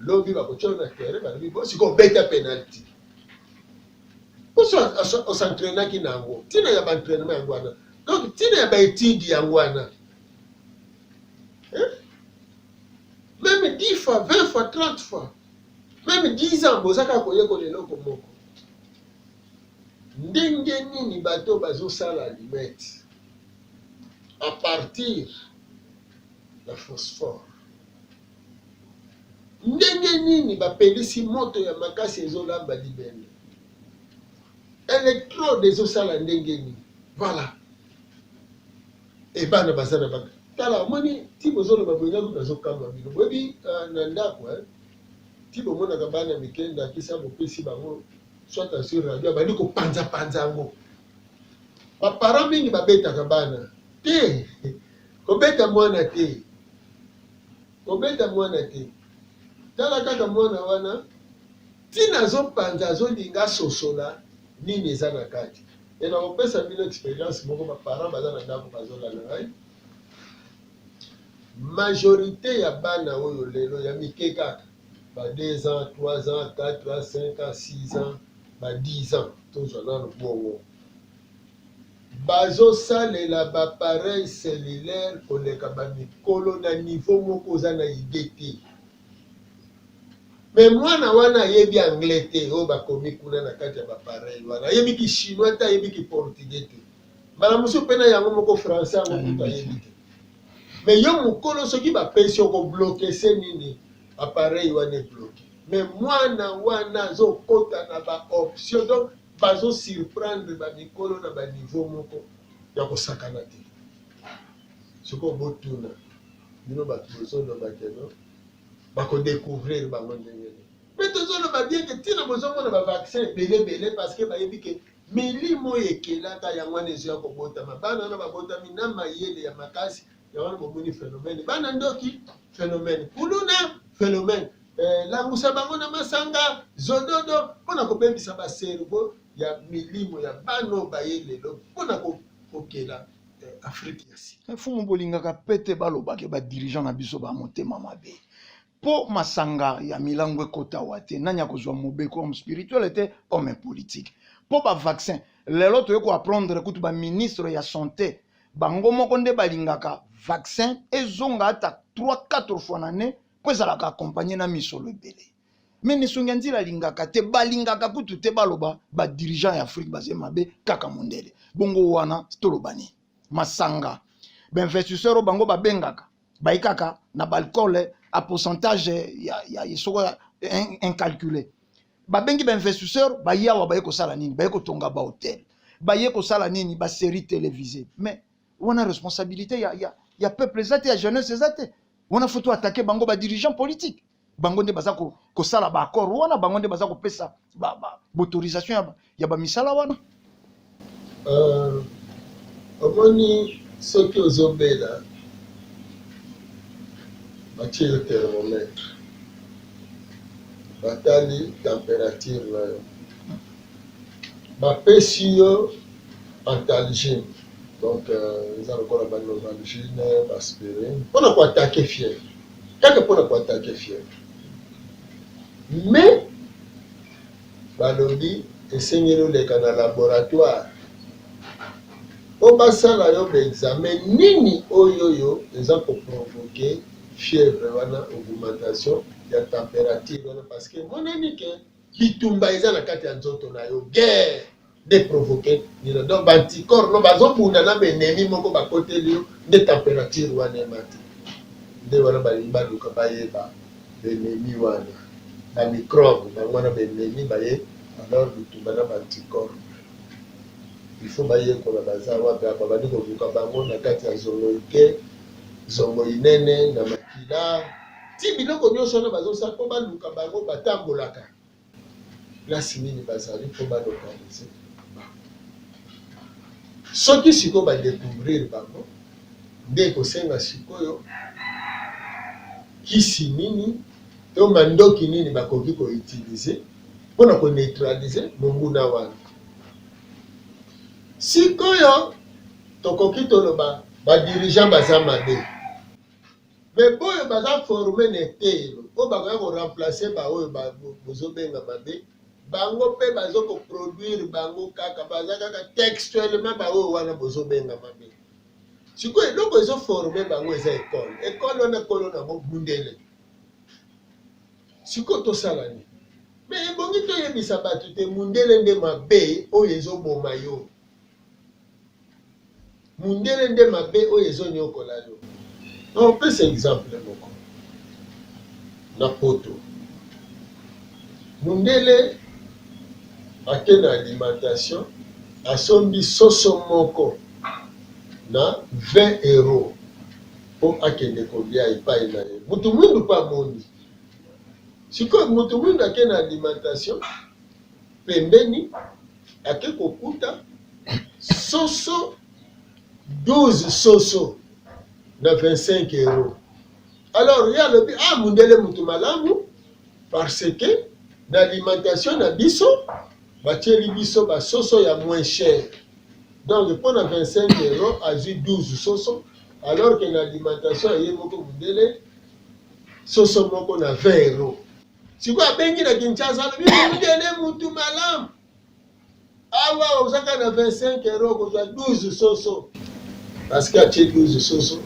lobi bakotya na terrain balobi bo sikoyo obeta penalty osentrainaki na yango ntina ya baentrainement yango wana donc ntina ya baetide yango wana meme 10 fois 20 fois 30 fois meme 10 ans boza kaka koyekola eloko moko ndenge nini bato bazosala limete à partir ya phosphore ndenge nini bapelisi moto ya makasi ezolamba libende electrode ezosala ndenge nini voilà e bana baza na bana tala omoni ti bozoloba boye ngai kutu azokamwa bino boyebi ah, na ndako eh. ti bomonaka bana mike ndakisa bopesi bango soit sur radio abandi kopanzapanza yango baparent mingi babetaka bana te kobeta mwana te Kobeta mwana te tala kaka mwana wana tina azopanza azolinga asosola nini eza na kati e nakopesa bino experience moko baparent baza na ndako bazolanda ngai majorité ya bana oyo lelo ya mike kaka ba 2 ans 3 ans 4 ans 5 ans 6 ans ba 10 ans tozwa nano bongo Bazo salela ba pareil cellulaire koleka ba mikolo na niveau moko oza na idee te. Mais mwana wana ayebi anglais te oyo bakomi kuna na kati ya ba pareil wana. Ayebi ki chinois te, ayebi ki portugais te. Mbala mosusu pe na yango moko français yango kutu ayebi te. Mais yo mokolo soki bapesi oko bloke se nini? Appareil wana ebloke. Mais mwana wana azokota na ba option donc Bazo surprendre ba mikolo na ba niveau moko ya kosakana te. Sikoyo botuna bino batu bozoloba ke no bako decouvrir bango ndenge nini? Mpe tozoloba bien ke ntina bozomona ba vaccin ebele ebele parce que bayebi ke milimo oyo ekelaka yango wana ezoya kobotama bana wana babotami na mayele ya makasi yango wana bomoni phenomène bana ndoki phenomène kuluna phenomène eh, langusa bango na masanga zododo mpo na kobebisa baservo ya milimo ya bano baye lelo mpo na kokela eh, afrike ya sika eh, fumu bolingaka pete balobake badirigeant na biso ba motema mabe mpo masanga ya milango ekotawa te nani akozwa mobeko homme spirituel te homme politique mpo bavaccin lelo toyei koapprendre kutu baministre ya santé bango moko nde balingaka vaccin ezonga ata 3 4 fois na ne mpo ezalaka accompagne na misolo ebele me nisongi ya nzila alingaka te balingaka kutu te baloba badirigant ya afrike baze mabe kaka mondele bongo wana toloba nini masanga bainvestisseur oyo bango babengaka baye kaka na baalcool a pourcentage ya, ya soko ya incalculé babengi bainvestisseur baye awa baye kosala nini baye kotonga bahotel baye kosala nini basérie télévisé mais wana responsabilité ya, ya, ya peuple eza te ya jeunesse eza te wana faut toatake bango badirigeant politique bango nde baza kosala ba accord wana bango nde baza kopesa autorisation ya bamisala wana euh, omoni soki ozobela batie yo thermomètre batali température na yo bapesi yo antalgine donc euh, eza lokola banovalgine baspirine mpona koatake fièvre kaka pona ko attaque fièvre mais balobi esengeli oleka na laboratoire po basala yo ba examen nini oyoyo eza ko provoque fièvre wana augmentation ya temperature wana parce que emonani que bitumba eza na kati ya nzoto na yo guerre nde provoque bino donc ba anticorps no bazo bunda na ba ennemis moko ba koteli yo nde temperature wana emati nde wana balingi baluka bayeba ba ennemis wana ba microbes bango wana ba ennemis baye alors bitumba na ba anticorps il faut bayekola baza wapi apa bandi koluka bango na kati ya zongo ike zongo inene na makila ti biloko nyonso wana bazosala mpo baluka bango batambolaka place nini bazali mpo ba localiser bango. Soki sikoyo ba decouvrir bango, nde ekosenga sikoyo kisi nini to mandoki nini bakoki ko utiliser mpo na ko neutraliser monguna wana. Sikoyo tokoki toloba ba dirigeants baza mabe, Mais boyo baza forme na eteyelo oyo bakoya ko remplacer ba oyo ba bozo benga mabe bango pe bazo ko produire bango kaka baza kaka textuellement ba oyo wana bozo benga mabe sikoyo eloko ezo forme bango eza ekole ekole wana kolo nango bundele sikoyo tosala nini me ebongi toyebisa bato te mundele nde mabe oyo ezoboma yo Mundele nde mabe oyo ezo niokola yo. Na opesa exemple moko na poto mundele ake na alimentation asombi soso moko na 20 euro po akende kolia epai na ye mutu muindu pe amoni sikoyo mutu muindu ake na alimentation pembeni ake kokuta soso 12 soso na 25 euro alors ye alobi ah mundele mutu malamu parce que na alimentation na biso batieli biso basoso ya moins cher donc mpo na 25 euro azwi 12 soso alors que na alimentation ya ye moko mundele soso moko na 20 euro sikoyo abengi na kinshasa alobi mondele mutu malamu awa ozaka na 25 euro okozwa 12 soso parce que atie 12 soso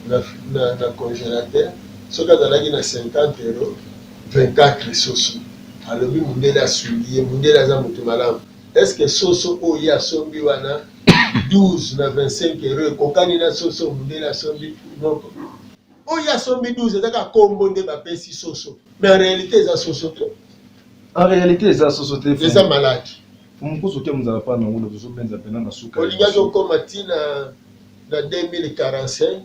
na, na, na congélateur soki azalaki na 50 euro 24 soso alobi mondele asungi ye mondele aza motu malamu est ce que soso oyo ye asombi wana 12 na 25 euro ekokani na soso mondele asombi moko Oyo ya sombi 12 eza kaka kombo nde bapesi soso. Mais en réalité eza soso te. En réalité eza soso te. Eza malade. Mumukusu te muzala pa na ngolo tozo benza pena na suka. Olingaki okoma ti na na 2045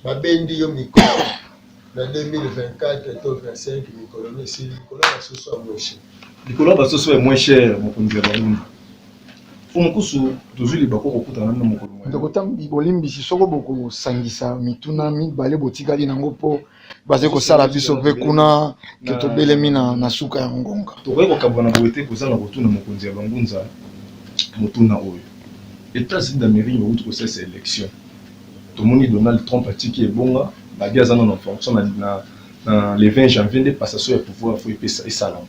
babendi yo mikolo na 2024 to 25 mikolo misili likolo ya basusu ya mweshi. Likolo ya basusu ya mweshi mokonzi ya baumba. Mpo mokusu tozwi libaku ya kokutana na bino mokolo moye. Ndeko Tambi, bolimbisi soko bokosangisa mituna mibale botikali na yango mpo bazali kosala biso mpe kuna que tobelemi na suka ya ngonga. Tokoki kokabwana boye te kozanga kotuna mokonzi ya bangunza motuna oyo. Etats-Unis d'Amerique bawuti kosalisa election. Tomoni Donald Trump atiki ebonga, Biden aza nanu en fonction, na le 20 janvier nde passation ya pouvoir faut esalama.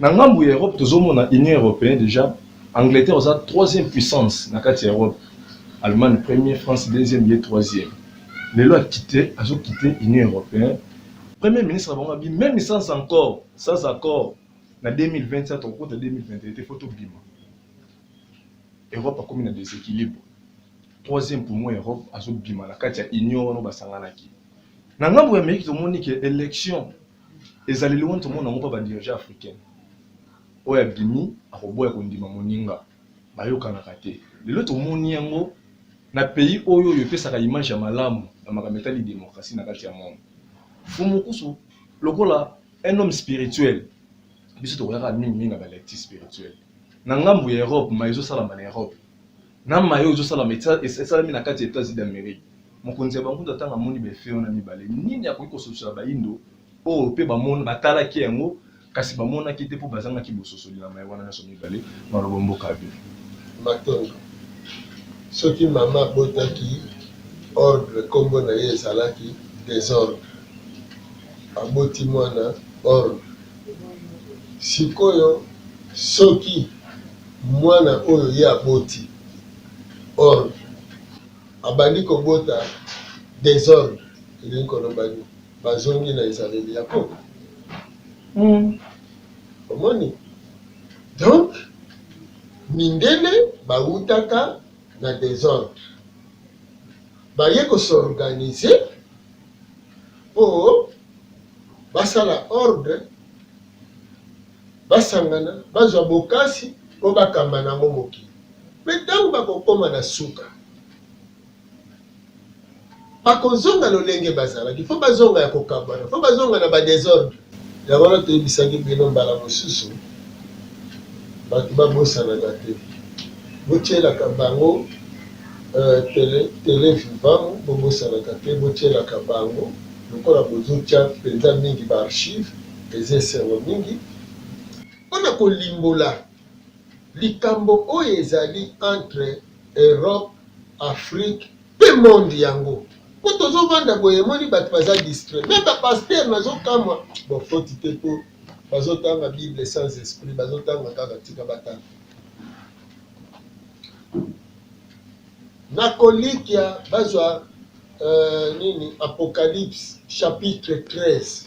Na ngambu ya Europe tozo mona Union Europeenne dejà Angleterre oza troisième puissance na kati ya Europe Allemagne premier France deuxième ye troisième lelo a quitte azo quitte Union Europeenne premier ministre na bango abimi meme sans encore sans accord na 2020 ça toko kota 2021 te faut to bima Europe akomi na desequilibre troisième poumon ya Europe azo bima na kati ya Union wana ba sanganaki na ngambu ya Amerique tomoni ke election ezaleli wana tomona yango mpa badirigeant africain oyo abimi akoboya kondima moninga bayokanaka te lelo tomoni yango na pays oyo oyo epesaka image ya malamu na makambo etali demokrasi na kati ya monde fumukusu lokola un homme spirituel biso tokoyaka mingi mingi na balecti spirituel na ngambo ya europe ma ezosalama na europe na maye oyo ezosalama esalami na kati ya Etats-Unis d'Amerique. Mokonzi ya bankutu atanga amoni ba effet wana mibale, nini akoki kososola bayindo oyo mpe bamona batalaki yango kasi bamonaki te mpo bazangaki bososoli na maye wana nyonso mibale maloba mboka ya bino. Matondo. Soki mama abotaki ordre nkombo na ye ezalaki desordre, aboti mwana ordre. Sikoyo soki Mwana oyo ye aboti ordre abandi kobota desordre elingi koloba nini? Bazongi na ezaleli ya koko humm omoni donc mindele bawutaka na desordre baye ko s'organiser po basala ordre. Basangana, bazwa bokasi mpo bakamba na yango mokili. Mpe ntango bakokoma na suka, bakozonga lolenge bazalaki. Mpo bazonga ya kokabwana, mpo bazonga na badesordre. Yango wana toyebisaki bino mbala mosusu, bato babosanaka te. Botyelaka bango tele, tele vivant, bobosanaka te, botyelaka bango, lokola bozotya mpenza mingi ba archives, Eza esengo mingi mpo na kolimbola likambo oyo ezali entre Europe, Afrique mpe monde yango mpo tozo vanda boye emoni bato baza distrait meme ba pasteur nazo kamwa bo foti te mpo bazo tanga bible sans esprit bazo tanga kaka tika batanga nakolikia bazwa uh, nini apocalypse chapitre 13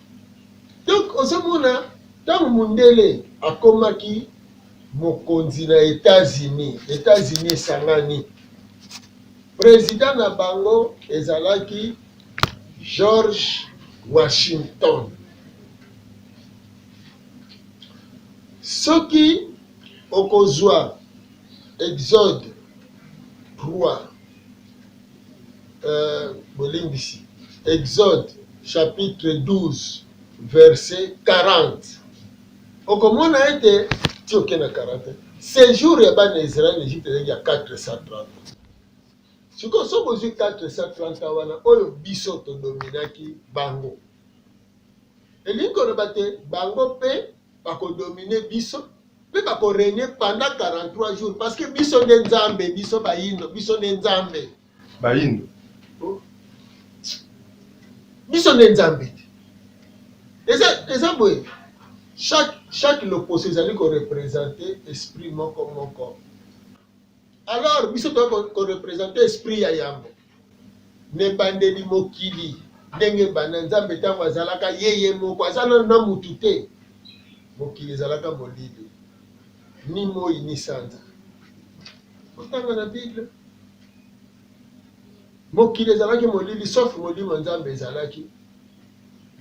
Donc ozomona ntango mondele akomaki mokonzi na Etats-Unis, Etats-Unis esangani, president na bango ezalaki George Washington. Soki okozwa Exode 3 euh, bolimbisi Exode chapitre 12 verset 40 okomona ete ti oke na 40 sejour ya bana Israël Egypte ezalaki ya 430 sikoyo so bozwi 430 wana oyo biso todominaki bango elingi koloba te bango mpe bakodomine biso mpe bakoregne pendant 43 jours parce que biso nde nzambe biso bayindo biso nde nzambe bayindo oh. biso nde nzambe te eza eza boye chaque chaque loposo ezali korepresente esprit moko moko Alors biso toyaki ko representer esprit ya yambo na ebandeli mokili ndenge ebanda nzambe ntango azalaka ye ye moko aza nano na motu te mokili ezalaka molili ni moi ni sanza otanga na bible mokili ezalaki molili sauf molimo nzambe ezalaki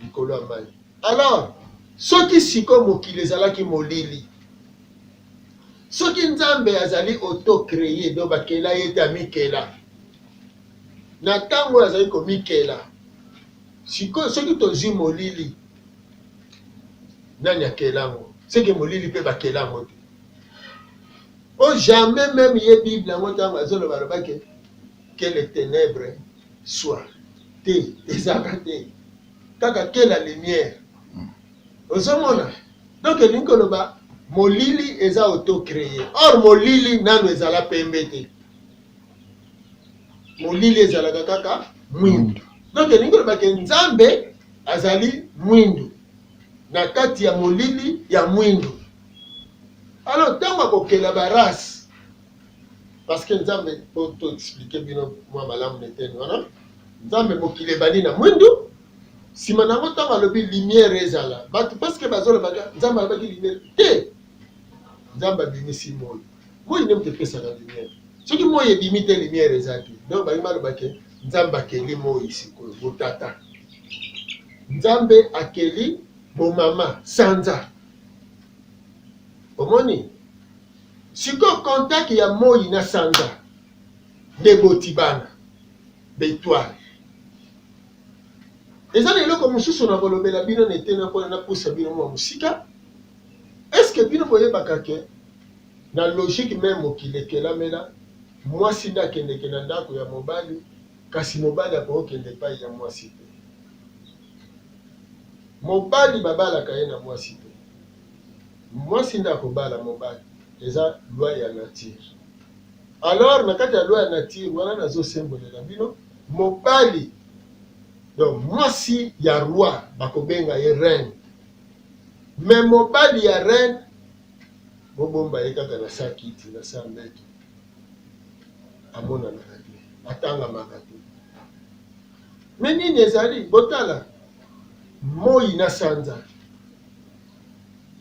likolo ya mai. Alors, soki siko mokili ezalaki molili, soki Nzambe azali autocree, donc bakela ye te, amikela na ntango oyo azali komikela. Sikoyo soki tozwi molili, nani akela yango? Seke molili mpe bakela yango te. O jamais meme ye Bible yango ntango azoloba alobaki que les ténèbres Soit te ezalaka te kaka que la lumière hmm. ozomona donc elingi koloba molili eza autocree or molili nano ezala pembe te molili ezalaka kaka mwindu donc elingi koloba ke nzambe azali mwindu na kati ya molili ya mwindu alors ntango akokela barase parceke nzambe po to explike bino mwa malamu na eteni wana nzambe mokili ebandi na mwindu nsima na yango ntango alobi lumière ezala bato parceke bazolobaka nzambe alobaki lumière te nzambe abimisi moi moi nde moto epesaka lumière soki moi ebimi te lumière eza te donc balingi balobake nzambe akeli moi sikoyo botata nzambe akeli bomama sanza omoni Sikoyo contact ya moyi na sanza nde eboti bana b'etoile. Eza na eloko mosusu na kolobela bino na eteni wana na pusa bino mwa mosika. Est ce que bino boyebaka ke na logique meme mokili ekelamela mwasi nde akendeke na ndako ya mobali kasi mobali akoki kende epai ya mwasi te. Mobali babalaka ye na mwasi te. Mwasi nde akobala mobali eza loi ya nature alors na kati ya loi ya nature wana nazo sembolela bino mobali donc mwasi ya roi bakobenga ye reine mais mobali ya reine bobomba ye kaka na sa kiti na sa mbeto amonanaka te atangamaka te Mais nini ezali? Botala moi na sanza.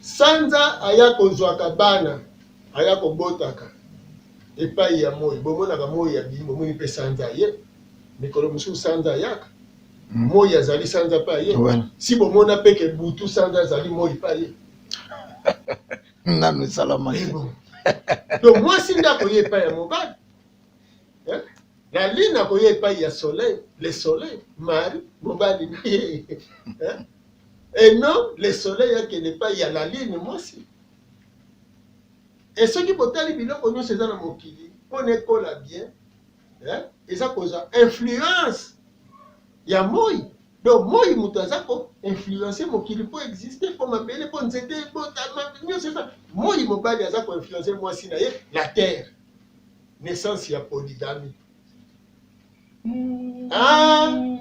Sanza aya kozwaka bana, aya kobotaka epai ya moi. Bomonaka moi abimi, bomoni mpe sanza aye. Mikolo mosusu sanza ayaka, moi azali, sanza mpe aye. Si bomona mpe ke butu sanza azali, moi mpe aye. Nanu esalamaki. Donc mwasi nde akoya epai ya mobali eh? la lune akoya epai ya soleil le soleil mari mobali na ye eh? et non le soleil akende epai ya la lune mwasi e soki botali biloko nyonso eza na mokili mpo na ekola bien eh? eza kozwa influence ya moi donc moi moto aza ko influence mokili mpo existe mpo mabele mpo nzete mpo nyonso eza moi mobali aza ko influence mwasi na ye la terre naissance ya polygamie mm. ah!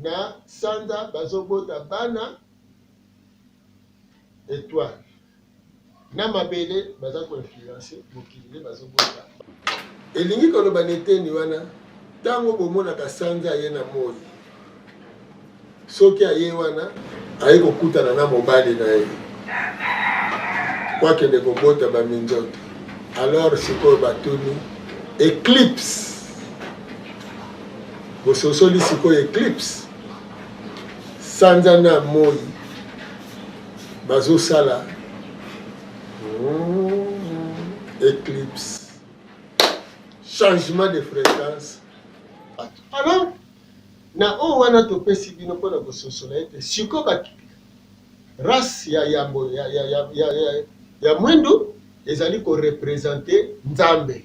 na sanza bazobota bana etoile na mabele baza koinfluence mokili nde bazobota elingi koloba na eteni wana ntango bomonaka sanza ye na moi soki aye wana aye kokutana na mobali na ye po akende kobota baminzoto alors sikoyo batuni eclipse bososoli sikoyo eclipse sanza na moi bazosala hmm, eclipse changement de fréquence alors Na oyo wana topesi bino mpo na kososola ete sikoyo ba race ya yambo ya, ya, ya, ya, ya, ya mwindu ezali korepresente Nzambe.